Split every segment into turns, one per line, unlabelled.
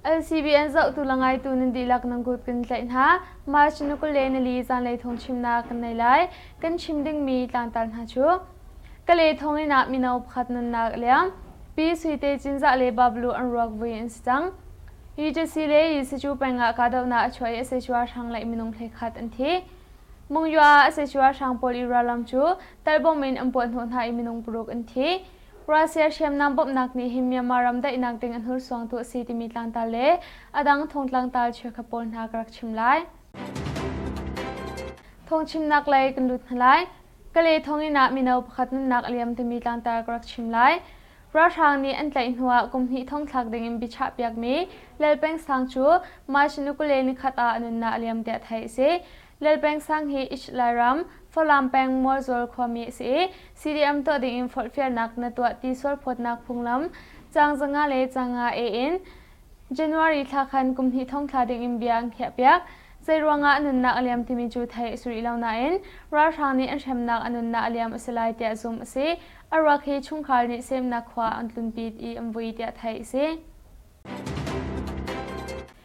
LCBN zohtu le ngaitu nan dihlak nan kut kan tlaih hna. March ni kul le nili zanlei thawng chimnak kan nei lai. Kan chim dingmi tlangtar hna cu Kale thonginn ah mino pakhat nunnak a liam. Pi Sui Te Cinzah le Bablu an ruak vui an si cang. UJC le Yisicu peng ah kahdohnak a chuah i SHU hrang le minung phlekhat an thi. Mungyu ah SHU hrang pawl i ralram cu talbom in an puah hnawh hna i minung paruk an thi. Russia hriamnam bawmhnak nih hin Myanmar ram daihnak ding a hnursuangtu a si timi tlangtar le a dang thong tlangtar cheukha pawl hna ka rak chim lai. Thong chimnak lei kan lut hna lai. Kale thonginn ah mino pakhat nunnak a liam timi tlangtar ka rak chim lai. Ralhrang nih an tlaih hnu ah kum hnih thong thlak ding in biachahpiakmi Lelpeng sang cu March ni kule ni khat ah a nunnak a liam tiah theih a si. Lel Peng sang hi Ish Lairam, Falam peng Mualzul khuami a si i CDM tuah ding in forhfialnak na tuah ti sualphawtnak phunglam caang zanga le caanga e in January thla khan kum hnih thong thla ding in bia an khiahpiak. Zeiruangah a nunnak a liam timi cu thei a si rih lo nain ralhrang nih an hremnak a nunnak a liam a si lai tiah zumh a si. A ruak hi chungkhar nih semnak khua an tlunpi i an vui tiah theih a si.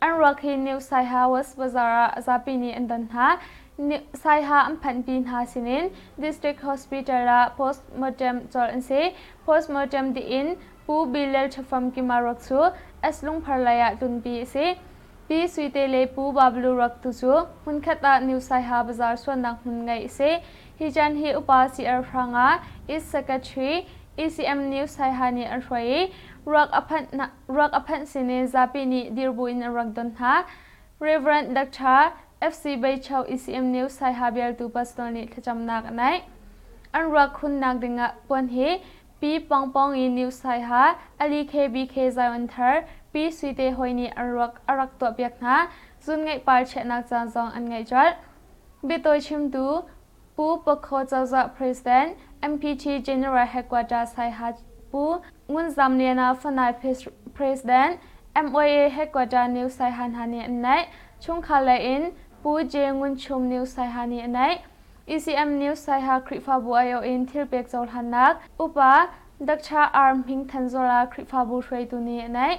An ruak hi New Saiha West Bazaar ah zapi nih an don hna. Saiha an phanhpi hna sinin District Hospital ah post-mortem cawlh an si. Post-mortem dih in Pu Bilal Thafam Kima ruak cu S lungphar lei ah tlunpi a si. Pi Suite le Pu Bablu ruak tu cu hmunkhat ah New Saiha Bazaar suannak hmun ngeih a si. Hi chan hi upa CR Hranga, East Secretary, ECM New Saiha nih an hruai i ruak a phanh ruak a phanh sin i zapi nih dir buin an rak don hna. Rev. Dr. FC Beicheu ECM News Saiha bialtu Pastor nih thlacamnak a naih. An ruak khunnak dingah puan hi Pi Pawngpawng i New Saiha, Ali KBK Zion Thar, Pi Sui Te Hoi nih an ruak a rak tuahpiak hna. Zun ngeih par chiahnak caan zong an ngeih colh. Biatawi chimtu Pu Pokho cozah President, MPT General Headquarters Saiha Pu Ngun Zam Lian ah Fanai President, MOA Headquarters New Saiha hna nih an naih. Chungkhar lei in Pu J Ngun Chum New Saiha nih a naih. ECM New Saiha Khrihfabu aiawh in thilpek cohlannak, upa Dr. R Hming Than Zor ah Khrihfabu hruaitu nih a naih.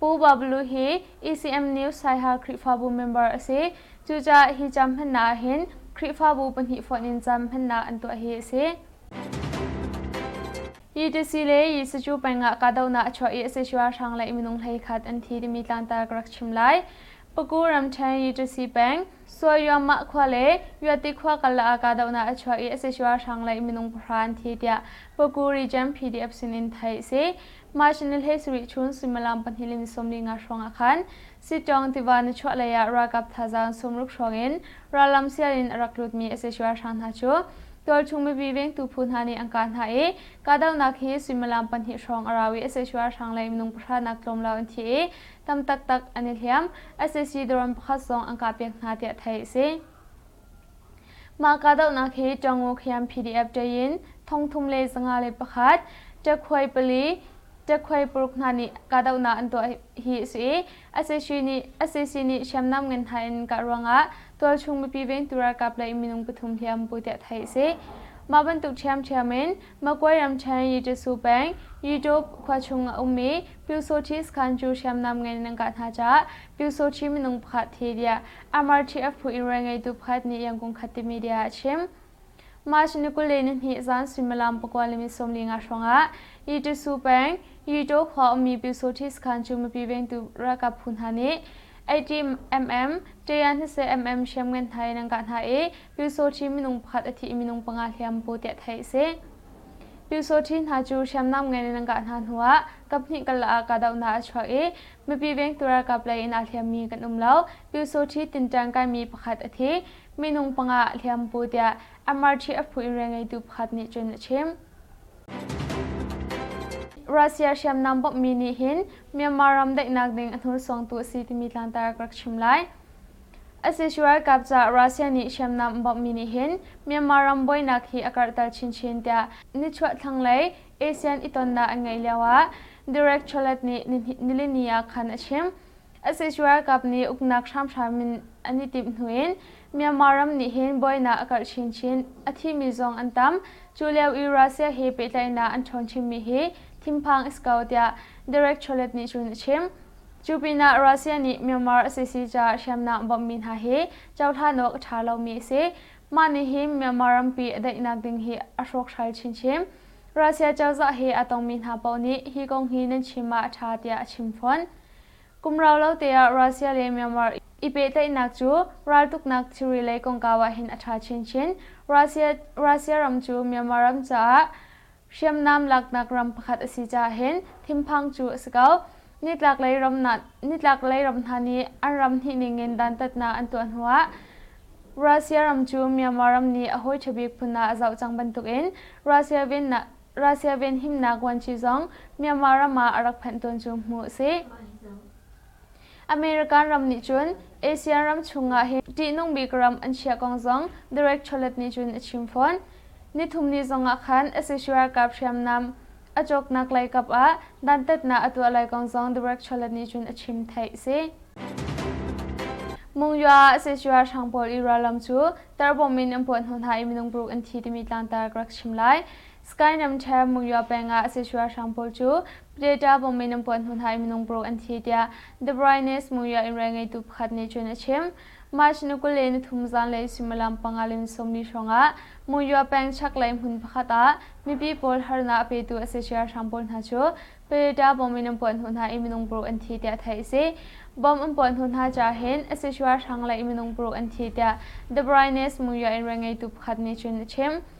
Pu Bablu hi ECM New Saiha Khrihfabu member a si. Cucaah hi cam hmannak ah hin Khrihfabu pahnih fonh in cam hmannak an tuah hi a si. UTC le Yisucu peng ah kahdohnak a chuah i sac ralhrang le minung hlei khat an thi timi tlangtar ka rak chim lai. Paku ramṭhen Yitusi peng, Suayuamah khua le Yuati khua karlak ah kahdohnak a chuah i a si ralhrang lei minung pahra an thi tiah Puku Region PDF sinin theih a si. March ni hlei sarih chun suimilam pahnih le ni sawmli nga hrawngah khan Sitawng tiva na chuah lei ah ralkap thazaang sumruk hrawng in rallam sial in a rak lutmi a si ralhrang hna cu tualchung mipi vengtu phu hna nih an kah hna i kahdohnak hi suimilam pahnih hrawng a rau i a si ralhrang lei minung pahra nak tlawmlo an thi i tam taktak an i hliam. SSC drone pakhat sawng an kah piak hna tiah theih a si. Mah kahdohnak hi Ṭango Khyam PDF ṭayin thong thum le zanga le pakhat, Ṭakhuai pali, Ṭakhuai paruk hna nih kahdohnak an tuah hi a si i SSC nih, SSC nih hriamnam ngan hna in kah ruangah tualchung mipi vengtu ralkap le minung pathum hliam bu tiah theih a si. Mah bantuk ṭhiamṭhiam in Magway ramṭhen Yityasu peng Yitop khua chung a um i Pyosochi sakhan cu hriamnam ngeih nan ngah hna caah Pyosochi minung pakhat thi tiah Amarthi a phu in rawl ngeitu pakhat nih yangkung khat timi bia a chim. March ni kul le nihnih zan suimilam pakua le ni sawmli nga hrawngah Yityasu peng Yito khua ummi Pyosochi sakhan cu mipi vengtu ralkap phu hna nih 80 mm, taya 20 mm hriamngan hna in an kah hna i Pyu Saw Kyi minung pakhat a thih minung panga hliam bu tiah theih a si. Pyu Saw Kyi hna cu hriamnam ngei in an kah hna hnuah kaphnih kal ah kahdohnak a chuak i mipi vengtu ralkap lei in aa hliammi kan um lo. Pyu Saw Kyi Tinṭang kaimi pakhat a thi, minung panga a hliam bu tiah MRT a phu in rian ngeitu pakhat nih cun a chim. Russia hriamnam bawmhmi nih hin Myanmar ram daihnak ding a hnursuangtu a si timi tlangtar ka rak chim lai. Asishe ralkap caah Russia nih hriamnam a bawmhmi nih hin Myanmar ram buainak hi a karhter chinchin tiah nichuah thlanglei ASEAN itonnak an ngeih lioah Derek Chollet nih nilini ah khan a chim. Asishe ralkap nih uknak hramhram in an i timh hnu in Myanmar ram nih hin buainak a karh chinchin, a thimi zong an tam. Cu lio i Russia he pehtlaihnak an ṭhawn chinmi hi thinphang a si ko tiah Derek Chollet nih cun a chim. Cu pinah Russia nih Myanmar a si si caah hriamnam bawmhmi hna hi cohlan awk a ṭha lomi a si. Mah nih hin Myanmar rampi a daihnak ding hi a hrawkhral chinchin. Russia cozah he aa tongmi hna paoh nih hi kong hi nan chim ah a ṭha tiah a chim fawn. Kum rau lo teah Russia le Myanmar i pehtlaihnak cu raltuknak thilri lei kongkau ah hin a ṭha chinchin. Russia ram cu Myanmar ram caah Hriamnam laknak ram pakhat a si caah hin thinphang cu a si ko. Nitlaklei ram nitlaklei ram hna nih an ram hnih ningin dantatnak an tuah hnuah Russia ram cu Myanmar ram nih a hawi ṭhabik phun ah a zoh cang bantukin Russia venhimnak vuanci zong Myanmar ram ah a rak phanh tawn cu hmuh a si. American ram nih cun Asia ram chungah hi ṭihnung bik ram an chiah kong zong Derek Chollet nih cun a chim fawn. Nithumni zongah khan SSU ralkap hriamnam a cawknak lei kap ah dantatnak a tuah lai kong zong Derek Chollet nih cun a chim theih a si. Mungyoa SSU ralhrang pawl i rallam cu tarbomb in an puah hnu hna i minung paruk an thi timi tlangtar ka rak chim lai. Skynem Chair Mungyoa peng ah SSU ralhrang pawl cu Data bomb in an puah hnu hna i minung paruk an thi tiah The Brightness Muria in rel ngeitu pakhat nih cun a chim. March ni kul le nithum zanlei suimilam panga le ni sawmli hrawngah Muria peng chaklei hmun pakhat ah mipi pawl harnak a petu a si hrang pawl hna cu Predator bomb in an puah hnu hna i minung paruk an thi tiah theih a si. Bomb an puah hnu hna ca hin a si hrang le minung paruk an thi tiah The Brightness Muria in rel ngeitu pakhat nih cun a chim.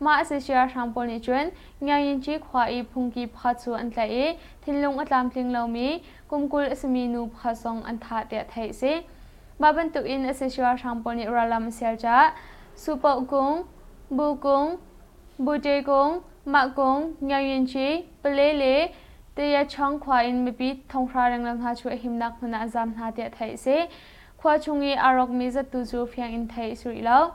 Mah a si siarhrang pawl nih cun Ngiayyinci khua i phungki pha cu an tlaih i thinlung a tlamtling lomi kum kul a simi nu pha zong an thah tiah theih a si. Mah bantukin a si siarhrang pawl nih rallam a sial caah Supoh kung, Bu kung, Bute kung, Mah kung, Ngiayyinci, Pale le Tayachong khua in mipi thonghra rengreng hna cu a himnak hmun ah an zaam hna tiah theih a si. Khua chung i aa rawkmi zattu cu fiang in theih a si rih lo.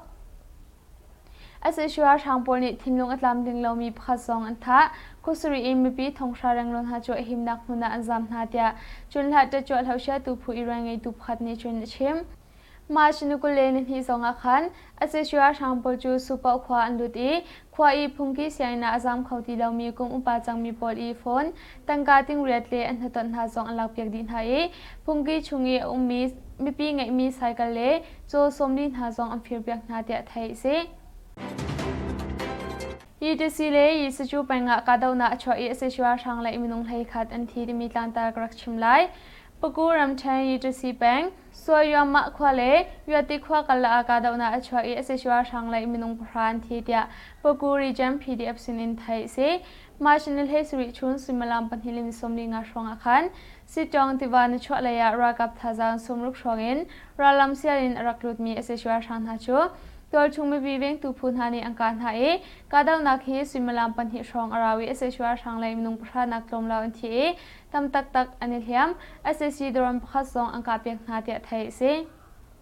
Sac ralhrang pawl nih thinlung a tlam tling lomi pakhat zong an thah. Khuasarih in mipi thonghra rengrun hna cu a himnak hmun ah an zaam hna tiah Cunhlat ṭettuahlo hrialtu phu irawn ngeitu pakhat nih cun a chim. March ni kul le nihnih zong ah khan sac ralhrang pawl cu Supaoh khua an lut i khua i phungki sianginn ah a zaam kho ti lomi kum upa cangmi pawl i fon, tangka tingriat le an hnaton hna zong an lakpiak dih hna i phungki chung i a ummi mipi ngeihmi saikal le caw sawmli hna zong an firpiak hna tiah theih a si. UTC le Yisuchu pengah kahdohnak a chuah i SSU ralhrang le minung hleikhat an thi timi tlantar ka rak chim lai. Paku ramṭhen UTC peng Suayuamah khua le Yuati khua kala ah kahdohnak a chuah i SSU ralhrang le minung pahra an thi tiah Paku Region PDF sinin theih a si. March ni hleisarih chun suimilam pahnih le ni sawmli nga hrawngah khan Sitawng tiva na chuah lei ah ralkap thazaang sawmruk hrawng in rallam sial in a rak lutmi sac ralhrang hna cu tualchung mipi vengtu phu hna nih an kah hna i kahdohnak hi suimilam pahnih hrawng a ra i sac ralhrang le minung pahra nak tlawmlo an thi i tam taktak an i hliam sac dron pakhat zong an kahpiak hna tiah theih a si.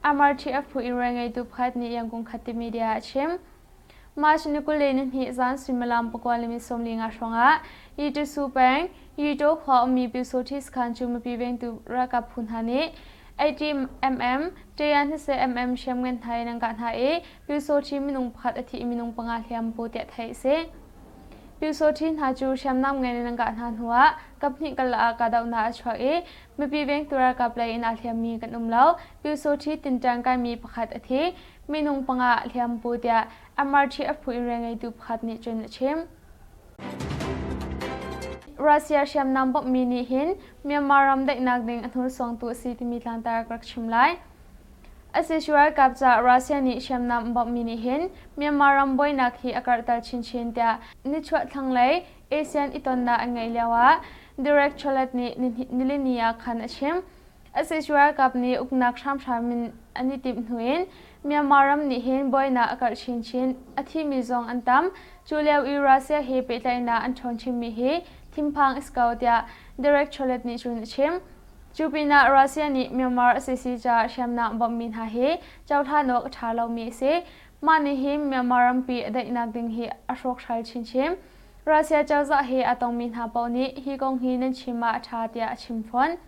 Amarthi Aphue-Ire ngeitu pakhat nih Yang Kung Khat timi bia a chim. March ni kul le nihnih zan suimilam pakua le ni sawmli nga hrawngah Yitusu peng Yito khua ummi Pyusawhti sakhan cu mipi vengtu ralkap phu hna nih 80mm, ṭaya 20mm hriamngan hna in an kah hna i Pyu Saw Kyi minung pakhat a thih minung panga hliam bu tiah theih a si. Pyu Saw Kyi hna cu hriamnam ngan in an kah hna hnuah kaphnih kal ah kahdohnak a chuak i mipi vengtu ralkap lei in aa hliammi kan um lo. Pyu Saw Kyi Tinṭang kaimi pakhat a thi, minung panga a hliam bu tiah MRT a phu in rianngeitu pakhat nih cun a chim. Russia hriamnam bawmhmi nih hin Myanmar ram daihnak ding a hnursongtu a si timi tlangtar ka rak chim lai. Asis ralkap caah Russia nih hriamnam bawmhmi nih hin Myanmar ram buainak hi a karhter chinchin tiah nichuah thlanglei ASEAN itonnak an ngeih lioah Derek Chollet nih nilini ah khan a chim. Asis ralkap nih uknak hramhram in an i timh hnu in Myanmar ram nih hin buainak a karh chinchin, a thimi zong an tam. Cu lio i Russia he pehtlaihnak an ṭhawn chinmi hi thinphang a si ko tiah Derek Chollet nih cun a chim. Cu pinah Russia nih Myanmar a si si caah hriamnam bawmhmi hna hi cohlan awk a ṭha lomi a si. Mah nih hin Myanmar rampi a daihnak ding hi a hrawkhral chinchin. Russia cozah he aa tongmi hna paoh nih hi kong hi nan chim ah a ṭha tiah a chim fawn.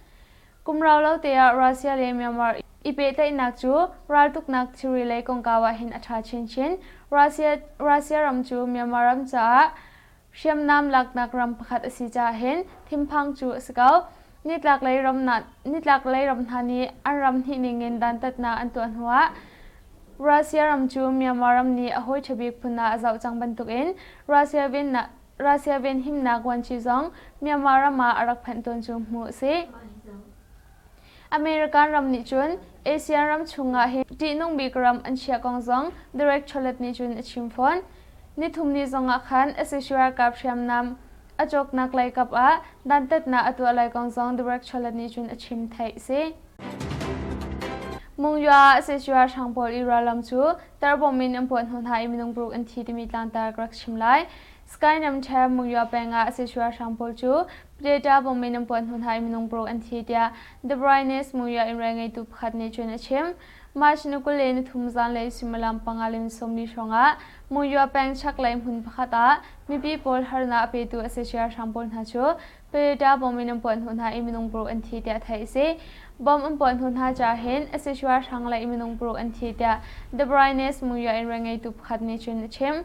Kum rau lo teah Russia le Myanmar i pehtlaihnak cu raltuknak thilri lei kongkau ah hin a ṭha chinchin. Russia ram cu Myanmar ram caah Hriamnam laknak ram pakhat a si caah hin thinphang cu a si ko. Nitlaklei ram nitlaklei ram hna nih an ram hnih ning in dantatnak an tuah hnuah Russia ram cu Myanmar ram nih a hawi ṭhabik phun ah a zoh cang bantukin Russia venhimnak vuanci zong Myanmar ram ah a rak phanh tawn cu hmuh a si. American ram nih cun Asia ram chungah hi ṭihnung bik ram an chiah kong zong Derek Chollet nih cun a chim fawn. Nithumni zongah khan sac ralkap hriamnam a cawknak leikap ah dantatnak a tuah lai kong zong Derek Chollet nih cun a chim theih a si. Mungyoa sac ralhrang pawl i rallam cu tarbomb in an puah hnu hna i minung paruk an thi timi tlangtar ka rak chim lai. Skynem Ṭhe Mungyoa peng ah sac ralhrang pawl cu Data bomb in an puan hnu hna i minung paruk an thi tiah The Brightness Muria in rai ngeitu pakhat nih cun a chim. March ni kul le nithum zanlei suimilam panga le ni sawmli hrawngah Muyua peng chaklei hmun pakhat ah mipi pawl harnak a petu a sacia hrang pawl hna cu Predator bomb in an puan hnu hna i minung paruk an thi tiah theih a si. Bomb an puan hnu hna ca hin a sacia hrang le minung paruk an thi tiah The Brightness Muria in rai ngeitu pakhat nih cun a chim.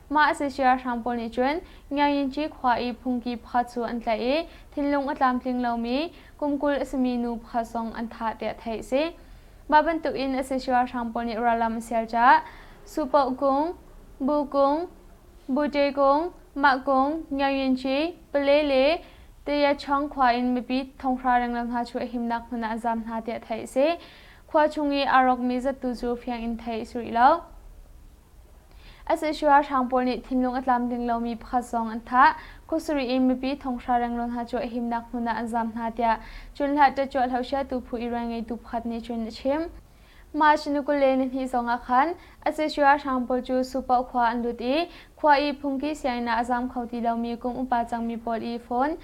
Mah a si siarhrang pawl nih cun Ngiaynci khua i phungki pha cu an tlaih i thinlung a tlamtling lomi kum kul a simi nu pha zong an thah tiah theih a si. Mah bantukin a si siarhrang pawl nih rallam a sial caah Supoh kung, Bu kung, Bute kung, Mah kung, Ngiaynci, Pale le Tayachong khua in mipi thonghra rengreng hna cu a himnak hmun ah an zaam hna tiah theih a si. Khua chung i aa rawkmi zattu cu fiang in theih a si rih lo. sac ralhrang pawl nih thinlung a tlamtling lomi pakhat zong an thah kut sarih in mipi thonghra rengrun hna cu a himnak hmun ah an zaam hna tiah cunhla ṭetchuahlo siatu phu irawi ngeitu pakhat nih cun a chim
march ni kul le nihnih zong ah khan sac ralhrang pawl cu supaoh khua an lut i khua i phungki sianginn ah a zaam kho ti lomi kum upa cangmi pawl i fon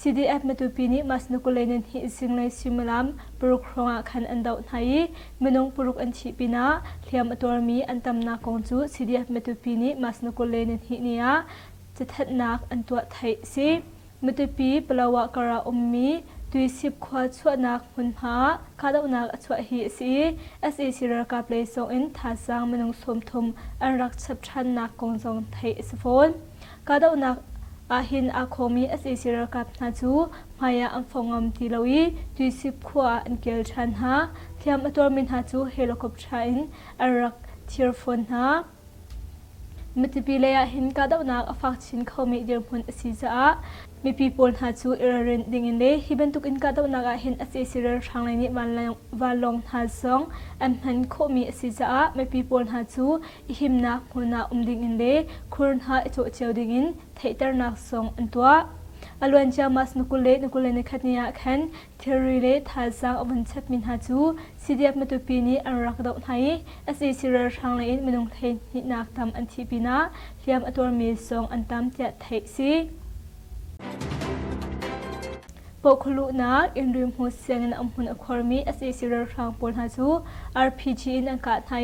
CDF matupi nih Mas Nukuleinen hi zinglei suimilam paruk hrawng ah khan an doh hna i minung paruk an thih pinah hliam a tuarmi an tamnak kong cu CDF matupi nih Mas Nukuleinen hi ni ah cathanh-nak an tuah theih a si. Matupi Palawa kar ah ummi Tuisip khua chuahnak hmunhma ah kahdohnak a chuah hi a si i sac ralkap lei sawng in thazaang minung sawmthum an rak chap ṭhannak kong zong theih a si fawn. Kahdohnak ah hin aa khawmi sac ralkap hna cu hmaiah an fong ngam ti lo i Tuisip khua ah an kir ṭhan hna. Hliam a tuarmi hna cu helicopter in an rak thir fawn hna. Mitipi lei ah hin kahdohnak a fak chin khomi dirhmun a si caah mipi pawl hna cu i ralrin dingin le hi bantukin kahdohnak ah hin sac ralhrang lei nih vanlawng hna zong an hman khawhmi a si caah mipi pawl hna cu i himnak hmun ah um dingin le khur hna i cawh cio dingin theihternak sung an tuah. A luancia mas na kule na kule ni khat ni ah khan thilri le thazaang a vun chepmi hna cu CDF matupi nih an rak doh hna i SAC ralhrang le in minung theihnihnak tam an thih pinah hliam a tuarmi sung an tam tiah theih si. Pawhkhawluhnak in rimhmut sianginn an hmun a khuarmi sac ralhrang pawl hna cu RPG in an kah hna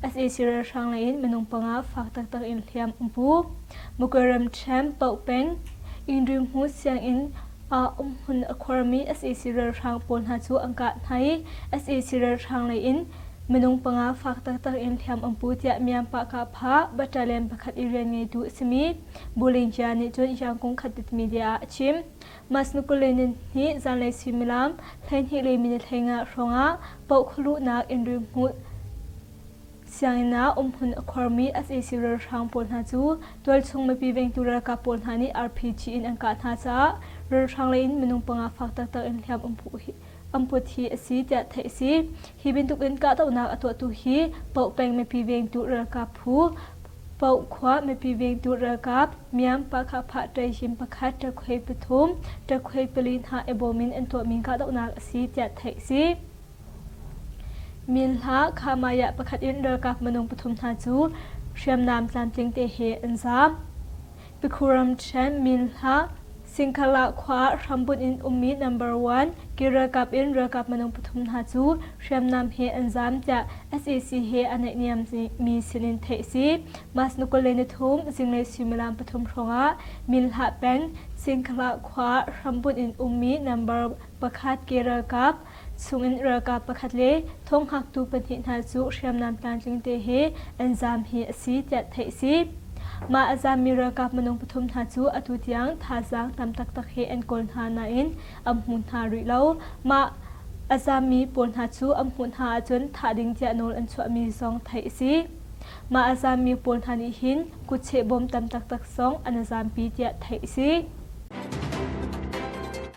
i sac ralhrang leiin minung panga fak taktak in hliam an pu. Muko ramṭhen Paoh peng in rimhmut sianginn ah umhmun a khuarmi sac ralhrang pawl hna cu an kah hna i sac ralhrang leiin minung panga fak taktak in hliam an pu tiah Myanpah Kahpha battalion pakhat i rian ngeitu a simi Bolivia nih cun rangkung khat tit media ah a chim. Mas Nukulenin hi zanlei suimilam hleihnih le minit hlengah hrawngah paoh khualuhnak in rimhmut sianginn um hun a khuarmi sac ralhrang pawl hna cu tualchung mipi vengtu ralkap pawl hna nih RPG in an kah hna caah ralhrang lei in minung panga fak taktak in hliam um put hi a si tiah theih a si. Hi bantukin kahdohnak a tuahtu hi Poh peng mipi vengtu ralkap phu, Poh khua mipi vengtu ralkap, Myanpah-Khahphah ṭaihim pakhat ṭakhuai pathum, ṭakhuai pali hna i bawm in an tuahmi kahdohnak a si tiah theih a si. Min hla Khamayah pakhat in ralkap minung pathum hna cu hriamnam tlamtling te he an zaam. Takhuram Chen Min Hlah, Singkhala khua ah hrambunh in ummi number one ke ralkap in ralkap minung pathum hna cu hriamnam he an zaam tiah SAC he a naihniammi sinin theih a si. Mas ni kul le ni thum zinglei suimilam pathum hrawngah Min Hlah peng Singkhala khua ah hrambunh in ummi number pakhat ke ralkap chungin ralkap pakhat le thawng'haktu pahnih hna cu hriamnam tlamtling te he an zaam hi a si tiah theih a si. Mah a zaammi ralkap minung pathum hna cu atu tiang thazaang tam taktak he an kawl hna nain an hmu hna rih lo. Mah a zaammi pawl hna cu an hmuh hna ahcun thah ding tiah nawl an chuahmi zong theih a si. Mah a zaammi pawl hna nih hin kutcheh bom tam taktak zong an a zaampi tiah theih a si.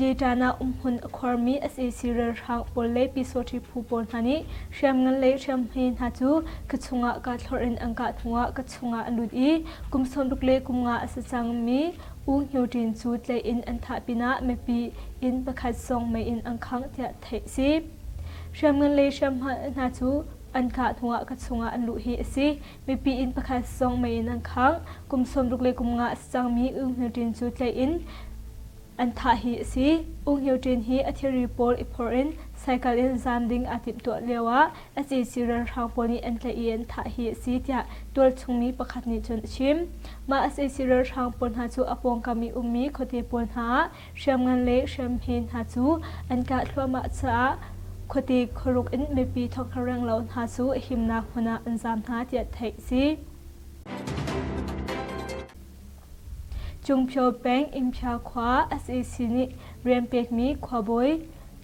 Yetan ah umhmun a khuarmi sac ralhrang pawl le Pyesawhri phu pawl hna nih hriamngan le hriamhme hna cu ka chungah kaa thlorh in an kah hnuah ka chungah a lut i kum sawmruk le kum nga a si cangmi U Hno Ṭin cu tlaih in an thah pinah mipi inn pakhat sawng mei in an khangh tiah theih a si. Hriamngan le hriamhma hna cu an kah hnuah ka chungah an luh hi a si. mipi inn pakhat sawng mei in an khangh kum sawmruk le kum nga a si cangmi Ung Hniu Ṭin cu tlaih in an thah hi a si. Ung Hniu Ṭin hi a thilri pawl i phawrh in cycle in zaam ding aa timhtuah lio ah SAC ralhrang pawl nih an tlaih i an thah hi a si tiah tualchungmi pakhat nih cun a chim. Mah SAC ralhrang pawl hna cu a pawngkam i ummi khuate pawl hna ah hriamngan le hriamhme hna cu an kah thluahmah caah khuate khuaruk in mipi thawkhareng lo hna cu himnak hmun ah an zaam hna tiah theih a si. Cungphio peng Inphia khua SAC nih rian pekmi khuabawi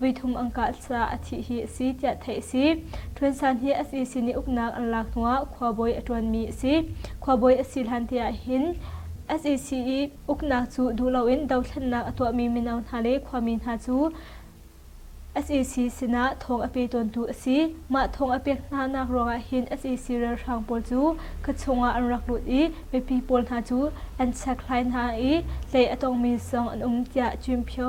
voithum an kah caah a thih hi a si tiah theih a si. Ṭhuan San hi a sin i uknak an lak hnuah khuabawi a ṭuanmi a si. Khuabawi a si hlan te ah hin SAC i uknak cu duh loin dothlennak a tuahmi mino hna le khuami hna cu SAC sinah thawng a pe tawntu a si. Mah thawng a pek hnanak ruangah hin SAC ralhrang pawl cu khuachung ah an rak lut i mipi pawl hna cu an chekhlai hna i hlei a tongmi zong an um tiah Cyimpyo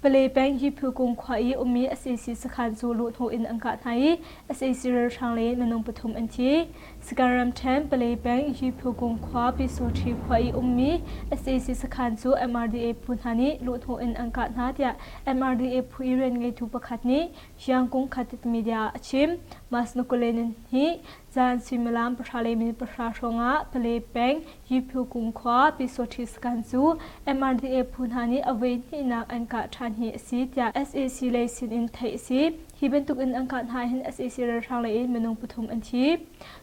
Pale peng Hiphukum khua i ummi sac sakhan cu luhhnawh in an kah hna i sac ralhrang le minung pathum an thi. Sakhan ramṭhen Pale peng Hiphukum khua Pyisuṭhi khua i ummi sac sakhan cu MRDA phu hna nih luhhnawh in an kah hna tiah MRDA phu i rian ngeitu pakhat nih Siangkung Khatet Media a chim. Mas Nukulen hi Caan suimilam pahra le minute pahra hrawngah Pale peng Yiphu kumkhua Pisothi sakhan cu MRDA phu hna nih a voi hnihnak an kah ṭhan hi a si tiah SAC lei sin in theih a si. Hi bantuk in an kah hna hin SAC ralhrang lei in minung pathum an thi.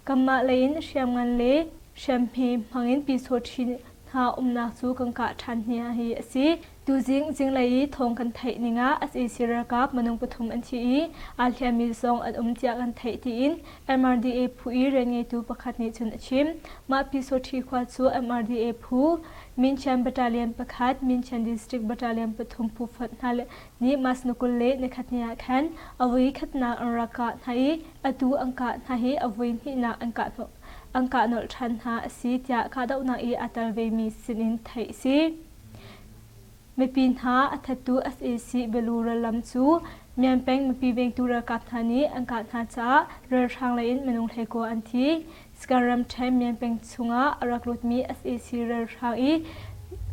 Kanmah lei in hriamngan le hriamhme hmangin Pisothi hna umnak cu kan kah ṭhan hna hi a si. Tuzing zinglei i thawng kan theih ning ah sac ralkap minung pathum an thi i aa hliammi zong an um tiah kan theih tiin MRDA phu i rianngeitu pakhat nih cun a chim. Mah Pyisawṭhi khua cu MRDA phu, Minchian Battalion pakhat, Minchian District Battalion pathum phu fonh hna nih mas ni kul le nikhatni ah khan a voi khatnak an rak kah hna i atu an kah hna hi a voi hnihnak an kah nolh ṭhan hna a si tiah kahdohnak i aa tel vemi sinin theih a si. Mipi hna a thattu sac Belura lam cu Myan peng mipi vengtu ralkap hna nih an kah hna caah ralhrang lei in minung hlekua an thi. Sagaing ramṭhen Myan peng chungah a rak lutmi sac ralhrang i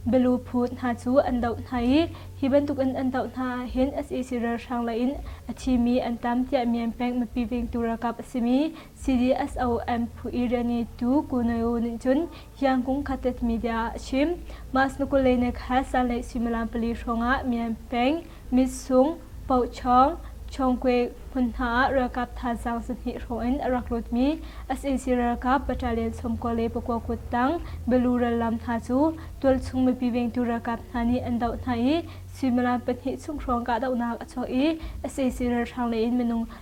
Balu phut hna cu an doh hna i hi bantukin an doh hna ahhin sac ralhrang lei in a thimi an tam tiah Myan peng mipi vengtu ralkap a simi CDSOM phu Irani tu Kunayo nih cun hiang kung khatet media ah a chim. Mas Nukulei ne kha sanlei suimilam pali hrawngah Myan Peng, Mit Sung, Poh Chong, Chongkwe hmun hna ah ralkap thazaang zahnih hrawng in a rak lutmi SAC ralkap battalion sawmkua le pakua kut tang Balu rallam hna cu tualchung mipi vengtu ralkap hna nih an doh hna i suimilam pahnih chung hrawng kahdohnak a chuak i SAC ralhrang lei in minung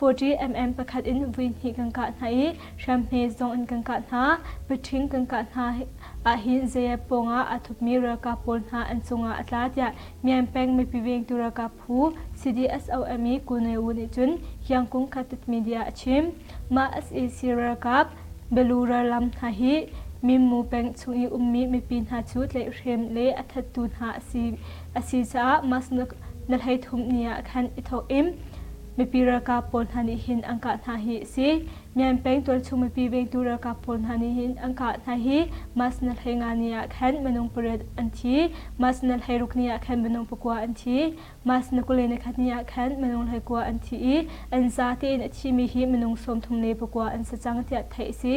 40 mm pakhat in vui hnih kan kah hna i hriamhme zong in kan kah hna paṭhing kan kah hna ahhin zei pawng ah aa thupmi ralkap pawl hna an cungah a tla tiah Myan Peng mipi vengtu ralkap phu CDSOM i Ku Nai Wu nih cun Kyangkung Khatet media a chim. Mah sac ralkap Balura lam hna hi Mimmu peng chung i ummi mipi hna cu tlaihhrem le a thattu hna a si A si caah mas na hleithum ni ah khan i thawk in mipi ralkap pawl hna nih hin an kah hna hi a si. Myan Peng tualchung mipi vengtu ralkap pawl hna nih hin an kah hna hi mas na hlei nga ni ah khan minung pariat an thi. Mas na hlei ruk ni ah khan minung pakua an thi. Mas na kule na khat ni ah khan minung hleikua an thi i an za tein a thimi hi minung sawmthum le pakua an si cang tiah theih a si.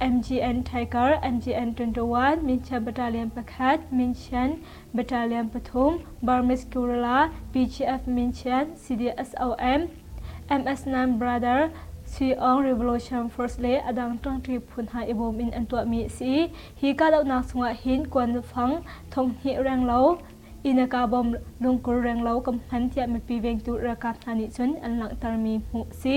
MGN Tiger MGN 21 Minchia Battalion pakhat Minchian Battalion pathum Burmese Kurila BGF Minchian CDSOM MS Nam Brother Sui Aung Revolution Force le a dang ṭangṭi phu hna i bawm in an tuahmi a si. Hi kahdohnak chungah hin kuanfang thonghnih reng lo, Inaka bom lungkur reng lo kan hman tiah mipi vengtu ralkap hna nih cun an langhtermi hmuh a si.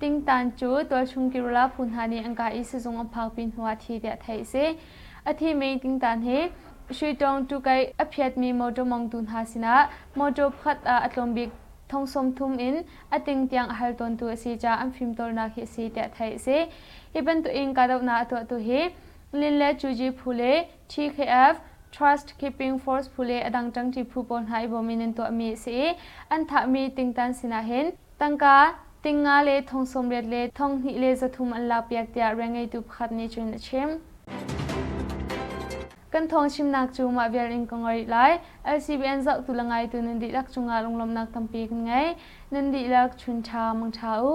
Tingtan cu tualchung kirila phu hna nih an ka i sizung an phakpi hnuah thi tiah theih a si. A thimi tingtan hi Shuitawng tukai a phiatmi mawṭaw mongtu hna sinah mawṭaw pakhat ah a tlawm bik thong sawmthum in a ting tiang a hal tawntu a si caah an fimtawlnak hi a si tiah theih a si. Hi bantukin kahdohnak a tuahtu hi Lin le Cuji phu le TKF, Trust Keeping Force phu le a dang ṭangṭi phu pawl hna i bawm in an tuahmi a si i an thahmi tingtan sinah hin Tangka, ting nga le thong sawmriat le thong hnih le zathum an lakpiak tiah rianngeitu pakhat nih cun a chim. Kan thawng chimnak cu mah vial in ka ngoi rih lai. LCBN zohtu le ngaitu nan dihlak cungah lunglawmhnak tampi kan ngei. Nan dihlak chun ṭha mangṭha u.